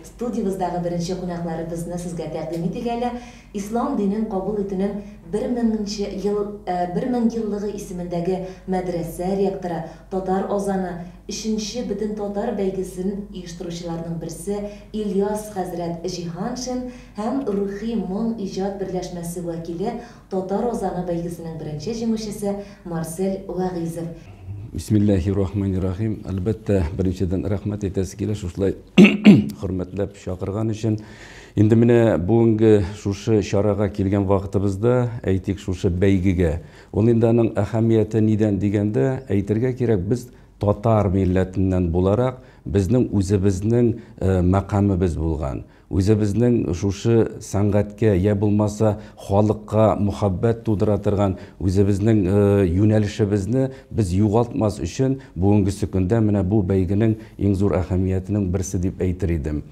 Студиябездагы беренче кунакларыбызны сезгә тәкъдим итик әле. Ислам динен кабул итүнең бер меңенче ел, бер мең еллыгы исемендәге мәдрәсә ректоры, татар азаны, өченче бөтентатар бәйгесен оештыручыларның берсе Ильяс хәзрәт Җиһаншин һәм Рухи моң иҗат берләшмәсе вәкиле Татар азаны бәйгесенең беренче җиңүчесе Марсель Вәгыйзов. Бисмиллаһи рахмани рахим. Әлбәттә, беренчедән рәхмәт әйтәсе килә шушылай хөрмәтләп чакырган өчен. Инде менә бүгенге шушы чарага килгән вакытыбызда, әйтик, шушы бәйгегә. Ул инде аның әһәмияте нидән дигәндә, әйтергә кирәк, без татар милләтеннән буларак, безнең үзебезнең э, мәкамебез булган. Үзебезнең шушы сәнгатькә йә булмаса халыкка мөхәббәт тудыра торган үзебезнең юнәлешебезне без югалтмас өчен бүгенгесе көндә менә бу бәйгенең иң зур әһәмиятенең берсе дип әйтер идем.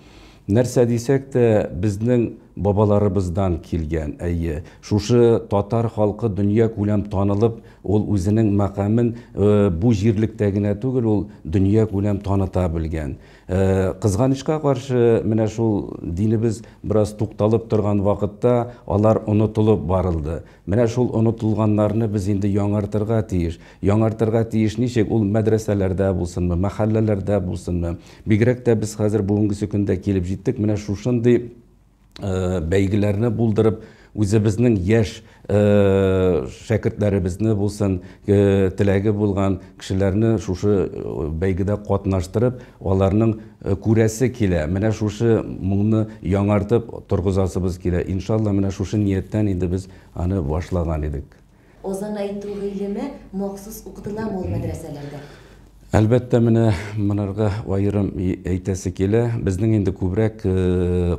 Нәрсә дисәк тә, безнең бабаларыбыздан килгән, әйе, шушы татар халкы дөньякүләм танылып, ул үзенең мәкамен бу җирлектә генә түгел, ул дөньякүләм таныта белгән. Кызганычка каршы, менә шул динебез бераз тукталып торган вакытта алар онытылып барылды. Менә шул онытылганнарны без инде яңартырга тиеш. Яңартырга тиеш ничек? Ул мәдрәсәләрдә булсынмы, мәхәлләләрдә булсынмы. Бигрәк тә без хәзер бүгенгесе көндә килеп җиттек, менә шушындый э, бәйгеләрне булдырып, үзебезнең яшь э, шәкертләребезне булсын, э, теләге булган кешеләрне шушы э, бәйгедә катнаштырып, аларның э, күрәсе килә. Менә шушы моңны яңартып торгызасыбыз килә. Иншалла, менә шушы нияттән инде без аны башлаган идек. Азан әйтү гыйлеме махсус укытыламы ул мәдрәсәләрдә? Әлбәттә, менә монарга аерым әйтәсе килә. Безнең инде күбрәк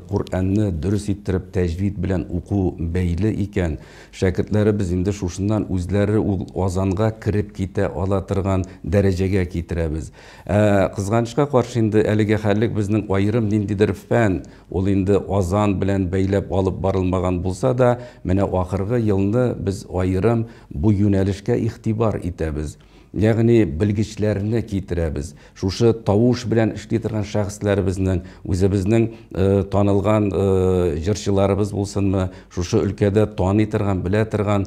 Коръәнне дөрес иттереп тәҗвид белән уку бәйле икән. Шәкертләребез инде шушыннан үзләре ул азанга кереп китә ала торган дәрәҗәгә китерәбез. Ә кызганычка каршы инде әлеге хәллек безнең аерым ниндидер фән, Ул инде азан белән бәйләп алып барылмаган булса да, менә ахыргы елны без аерым бу юнәлешкә игътибар итәбез. Ягъни белгечләрне китерәбез. Шушы тавыш белән эшли торган шәхесләребезнең, үзебезнең танылган җырчыларыбыз булсынмы, шушы өлкәдә таный торган, белә торган,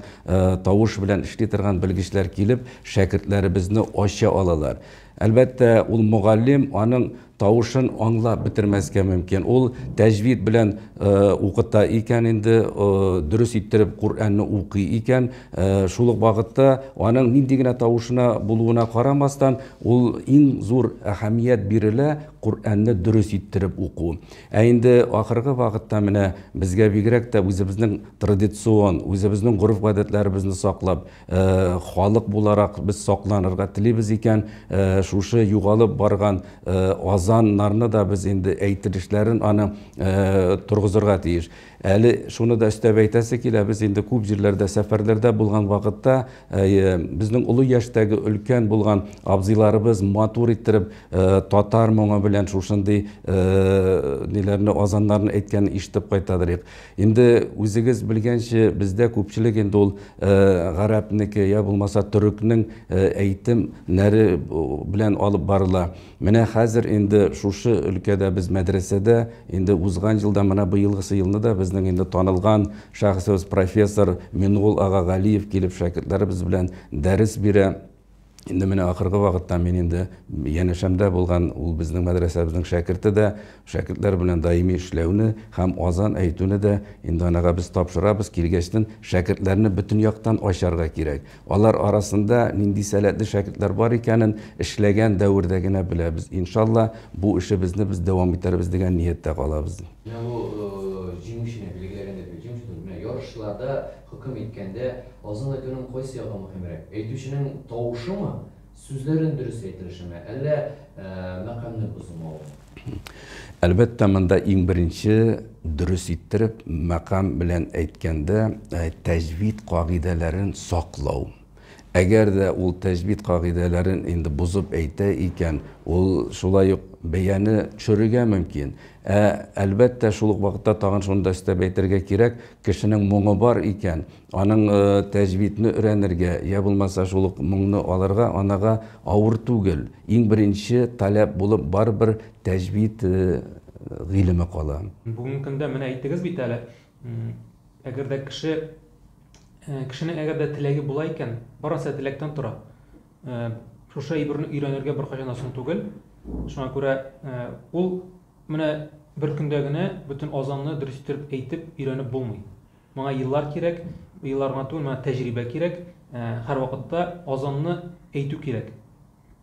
тавыш белән эшли торган белгечләр килеп, шәкертләребезне ача алалар. Әлбәттә, ул мөгаллим, аның Тавышын аңлап бетермәскә мөмкин. Ул тәҗвид белән укыта икән инде, дөрес иттереп Коръәнне укый икән. Шул ук вакытта аның нинди генә тавышына булуына карамастан, ул иң зур әһәмият бирелә Коръәнне дөрес иттереп уку. Ә инде ахыргы вакытта менә безгә бигрәк тә үзебезнең традицион, үзебезнең гореф-гадәтләребезне саклап, халык буларак без сакланырга телибез икән, шушы югалып барган азаннарны да без инде әйтелешләрен аны торгызырга тиеш. Әле шуны да өстәп әйтәсе килә, без инде күп җирләрдә сәфәрләрдә булган вакытта безнең олы яшьтәге өлкән булган абзыйларыбыз матур иттереп татар моңы белән шушындый ниләрне азаннарны әйткәнен ишетеп кайтадыр идек. Инде үзегез белгәнче, бездә күпчелек инде ул гарәпнеке, я булмаса төрекнең әйтем нәре белән алып барыла. Менә хәзер инде шушы өлкәдә без мәдрәсәдә инде узган елда, менә быелгысы елны да безнең инде танылган шәхесебез профессор Мингол ага Галиев килеп шәкертләребез белән дәрес бирә. Инде менә ахыргы вакытта мин инде янәшәмдә булган ул безнең мәдрәсәбезнең шәкерте дә, шәкертләр белән даими эшләүне һәм азан әйтүне дә инде анага без тапшырабыз. Килгәчтен шәкертләрне бөтен яктан ачарга кирәк. Алар арасында нинди сәләтле шәкертләр бар икәнен эшләгән дәвердә генә беләбез. Иншалла, бу эшебезне без дәвам итәрбез дигән нияттә калабыз. Менә бу җиңүчене билгеләгәндә, җиңүче, менә ярышларда Хөкем иткәндә, Азан итүнең кайсы ягы мөһимрәк, әйтүченең тавышымы, сүзләрен дөрес әйтелешеме, әллә мәкамне бозмаумы? Әлбәттә, монда иң беренче, дөрес иттереп, мәкам белән әйткәндә, тәҗвид кагыйдәләрен саклау. Әгәр дә ул тәҗвид кагыйдәләрен инде бозып әйтә икән, ул шулай ук бәяне төшерергә мөмкин. Ә, әлбәттә, шул ук вакытта тагын шуны да өстәп әйтергә кирәк, кешенең моңы бар икән, аның тәҗвидне өйрәнергә, йә булмаса шул ук моңны алырга анага авыр түгел. Иң беренче таләп булып барыбер тәҗвид гыйлеме кала. Бүгенге көндә, менә әйттегез бит әле, Әгәр дә кеше кешенең әгәр дә теләге була икән, барысы теләктән тора. Шушы әйберне өйрәнергә беркайчан да соң түгел. Шуңа күрә ул менә бер көндә генә бөтен азанны дөрес итеп әйтеп өйрәнеп булмый. Моңа еллар кирәк, еллар гына түгел, моңа тәҗрибә кирәк. Һәрвакытта азанны әйтү кирәк.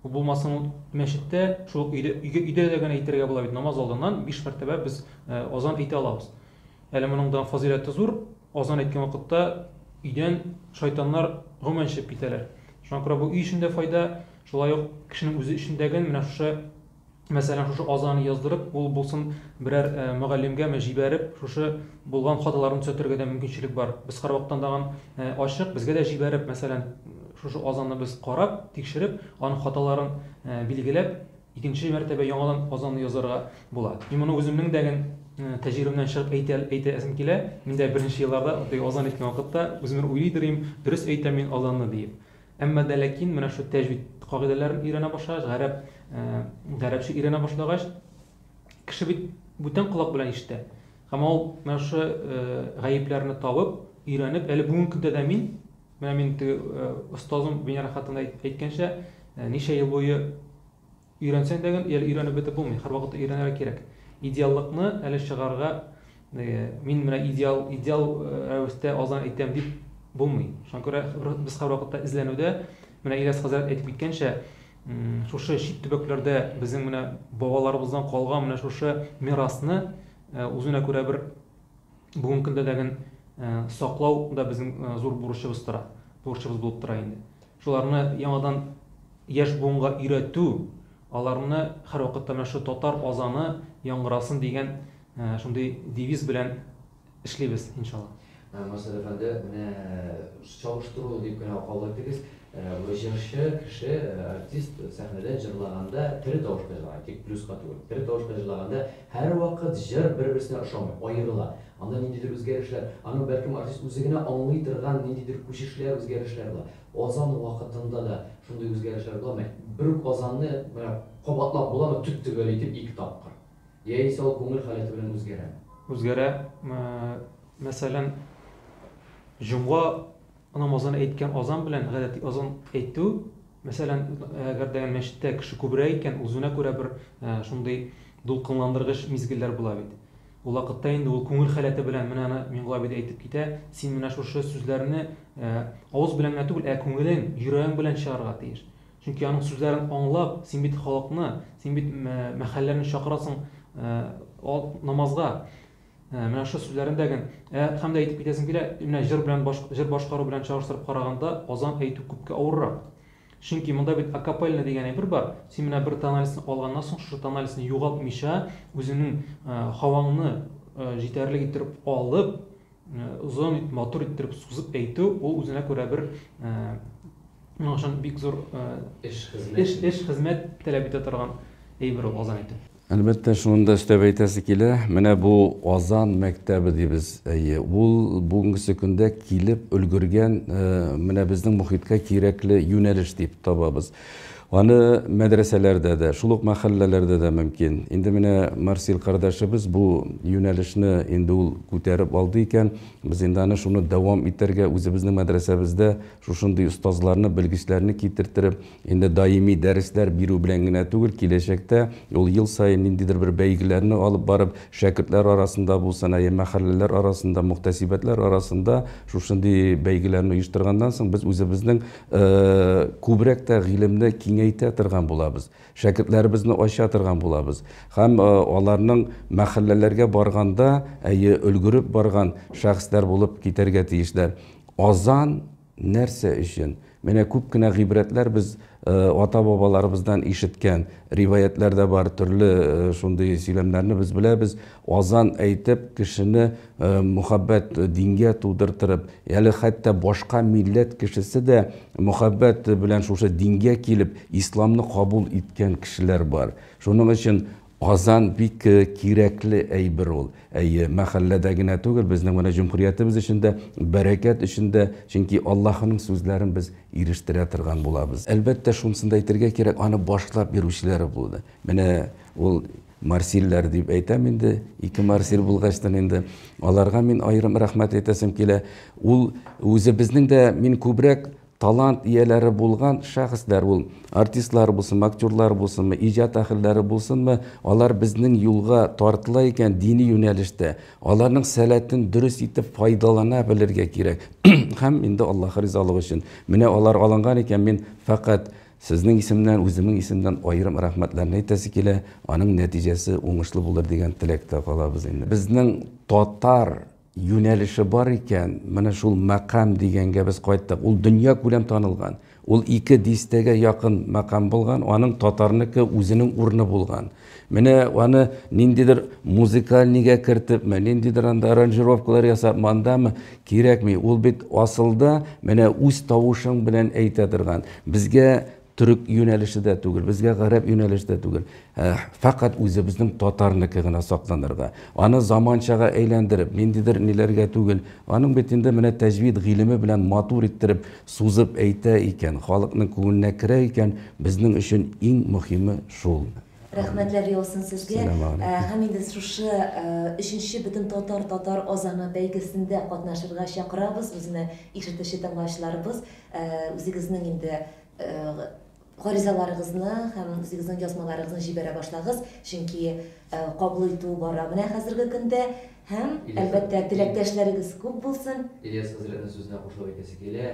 Ул булмасын ул мәчеттә, шул өйдә, өйгә, өйдә дә генә әйтергә була бит. Намаз алдыннан биш мәртәбә без э, азан әйтә алабыз. Әле моның да фазыйләте зур. Азан әйткән вакытта өйдән шайтаннар гомумән чыгып китәләр. Шуңа күрә бу өй өчен дә файда, шулай ук кешенең үзе өчен дә гел менә шушы Мәсәлән, шушы азаны яздырып, ул булсын берәр мөгаллимгәме җибәреп, шушы булган хаталарны төзәтергә дә мөмкинчелек бар. Без һәрвакыттан тагын ачык, безгә дә җибәреп, мәсәлән, шушы азанны без карап, тикшереп, аның хаталарын билгеләп, икенче мәртәбә яңадан азанны язарга була. Мин моны үземнең дә гел тәҗрибәмнән чыгып әйтә, әйтәсем килә. Мин дә беренче елларда, теге азан әйткән вакытта, үземне уйлый дөрим, дөрес әйтәм мин азанны диеп. Әмма дә ләкин менә шул тәҗвид кагыйдәләрен өйрәнә башлагач, гарәп, гарәпчә өйрәнә башлагач, кеше бит бүтән колак белән ишетә. Һәм ул менә шушы гаепләрне табып, өйрәнеп, әле бүгенге көндә дә мин, менә мин теге остазым Венера хатыны әйткәнчә, ничә ел буе Өйрәнсәң дә гел өйрәнеп бетеп булмый, һәрвакытта өйрәнергә кирәк. Идеаллыкны әле чыгарырга, мин менә идеал, идеал рәвештә азан әйтәм дип булмый. Шуңа күрә без һәрвакытта эзләнүдә, менә Ильяс хәзрәт әйтеп киткәнчә, шушы чит төбәкләрдә безнең менә бабаларыбыздан калган менә шушы мирасны үзенә күрә бер бүгенге көндә дәген саклау да безнең зур бурычыбыз тора, бурычыбыз булып тора инде. Шуларны яңадан яшь буынга өйрәтү, аларны һәрвакытта менә шул татар азаны яңгырасын дигән шундый девиз белән эшлибез, иншалла. Марсель әфәнде, менә чагыштыру дип кенә кабул итегез, бу җырчы кеше, артист сәхнәдә җырлаганда тере тавышта җырлаган, тик плюска түгел, тере тавышта җырлаганда Һәрвакыт җыр бер-берсенә ошамый, аерыла. Анда ниндидер үзгәрешләр, аның бәлкем артист үзе генә аңлый торган ниндидер күчешләр, үзгәрешләр була. Азан вакытында да шундый үзгәрешләр буламы? Бер үк азанны менә кабатлап буламы төп-төгәл итеп ике тапкыр? Яисә ул күңел халәте белән үзгәрәме? Үзгәрә. Мәсәлән, җомга Намазын әйткән азан белән гадәти азан әйтү, мәсәлән, әгәр дә мәчеттә кеше күбрәк икән, узүенә күрә бер шундый дулкынландыргыч мизгелләр була бит. Ул вакытта инде ул күңел халәте белән менә аны Миңгол абый да әйтеп китә, син менә шушы сүзләрне авыз белән генә түгел, ә күңелең, йөрәгең белән чыгарырга тиеш. Чөнки аның сүзләрен аңлап, син бит халыкны, син бит мәхәлләне чакырасың намазга. Ә, менә шушы сүзләрен дә гел, ә, һәм дә әйтеп китәсем килә, менә җыр белән баш, җыр башкару белән чагыштырып караганда, азан әйтү күпкә авыррак. Чөнки монда бит акапельно дигән әйбер бар, син менә бер тональсны алганнан соң, шушы тональсны югалтмыйча, үзеңнең, ә, һаваңны, ә, җитәрлек иттереп алып, ә, озын итеп, матур иттереп сузып әйтү, ул үзенә күрә бер, ә, моның өчен бик зур, ә, Эш, хезмәт. Эш, эш, хезмәт таләп итә торган әйбер ул азан әйтү. Әлбәттә, шуны да өстәп әйтәсе килә, менә бу Казан мәктәбе дибез, әйе, ул бүгенгесе көндә килеп өлгергән, менә безнең мохиткә кирәкле юнәлеш дип табабыз. Аны мәдрәсәләрдә дә, шул ук мәхәлләләрдә дә мөмкин. Инде менә Марсил кардәшебез бу юнәлешне инде ул күтәреп алды икән, без инде аны шуны дәвам итәргә, үзебезнең мәдрәсәбездә Шушындый остазларны, белгечләрне китертереп, инде даими дәресләр бирү белән генә түгел, киләчәктә ул ел саен ниндидер бер бәйгеләрне алып барып, шәкертләр арасында булсын, ә йә мәхәлләләр арасында, мөхтәсибәтләр арасында шушындый бәйгеләрне оештырганнан соң, без үзебезнең күбрәк тә гыйлемне киңәйтә торган булабыз. Шәкертләребезне ачатырган булабыз һәм аларның мәхәлләләргә барганда, әйе, өлгереп барган шәхесләр булып китәргә тиешләр. Азан нәрсә өчен? Менә күп кенә гыйбрәтләр без ата-бабаларыбыздан ишеткән риваятьләр дә бар, төрле шундый сөйләмнәрне без беләбез. Азан әйтеп, кешене мөхәббәт дингә тудыртырып, әле хәтта башка милләт кешесе дә мөхәббәт белән шушы дингә килеп, исламны кабул иткән кешеләр бар. Шуның өчен азан бик кирәкле әйбер ул. Әйе, мәхәлләдә генә түгел, безнең менә җөмһүриятебез өчен дә, бәрәкәт өчен дә, чөнки Аллаһының сүзләрен без ирештерә торган булабыз. Әлбәттә, шунысын да әйтергә кирәк, аны башлап йөрүчеләре булды. Менә ул Марсильләр дип әйтәм инде, ике Марсиль булгачтын инде. Аларга мин аерым рәхмәт әйтәсем килә. Ул үзебезнең дә мин күбрәк талант ияләре булган шәхесләр ул. Артистлар булсынмы, актерлар булсынмы, иҗат әһелләре булсынмы, алар безнең юлга тартыла икән дини юнәлештә, аларның сәләтен дөрес итеп файдалана белергә кирәк. Һәм инде Аллаһ ризалыгы өчен. Менә алар алынган икән, мин фәкать Сезнең исемнән, үземең исемнән аерым рәхмәтләрне әйтәсе килә, аның нәтиҗәсе уңышлы булыр дигән теләктә калабыз инде. Безнең татар юнәлеше бар икән, менә шул мәкам дигәнгә без кайттык. Ул дөньякүләм танылган. Ул ике дистәгә якын мәкам булган, аның татарныкы үзенең урыны булган. Менә аны ниндидер музыкальныйга кертепме, ниндидер анда аранжировкалар ясапмы, андамы, кирәкми. Ул бит асылда менә үз тавышың белән әйтә торган. Безгә төрек юнәлеше дә түгел, безгә гарәп юнәлеше дә түгел. Ә, фәкать үзебезнең татарныкы гына сакланырга. Аны заманчага әйләндереп, ниндидер ниләргә түгел. Аның бит инде менә тәҗвид гыйлеме белән матур иттереп сузып әйтә икән, халыкның күңеленә керә икән, безнең өчен иң мөһиме шул. Рәхмәтләр яусын сезгә. Сәламәгаләйкүм. Һәм инде шушы өченче Бөтен татар татар азаны бәйгесендә катнашырга чакырабыз үзенә ишетүче тыңлаучыларыбыз үзегезнең инде гаризаларыгызны һәм үзегезнең язмаларыгызны җибәрә башлагыз, чөнки кабул итү бара менә хәзерге көндә һәм, әлбәттә, теләктәшләрегез күп булсын. Ильяс хәзрәтнең сүзенә кушылып әйтәсе килә,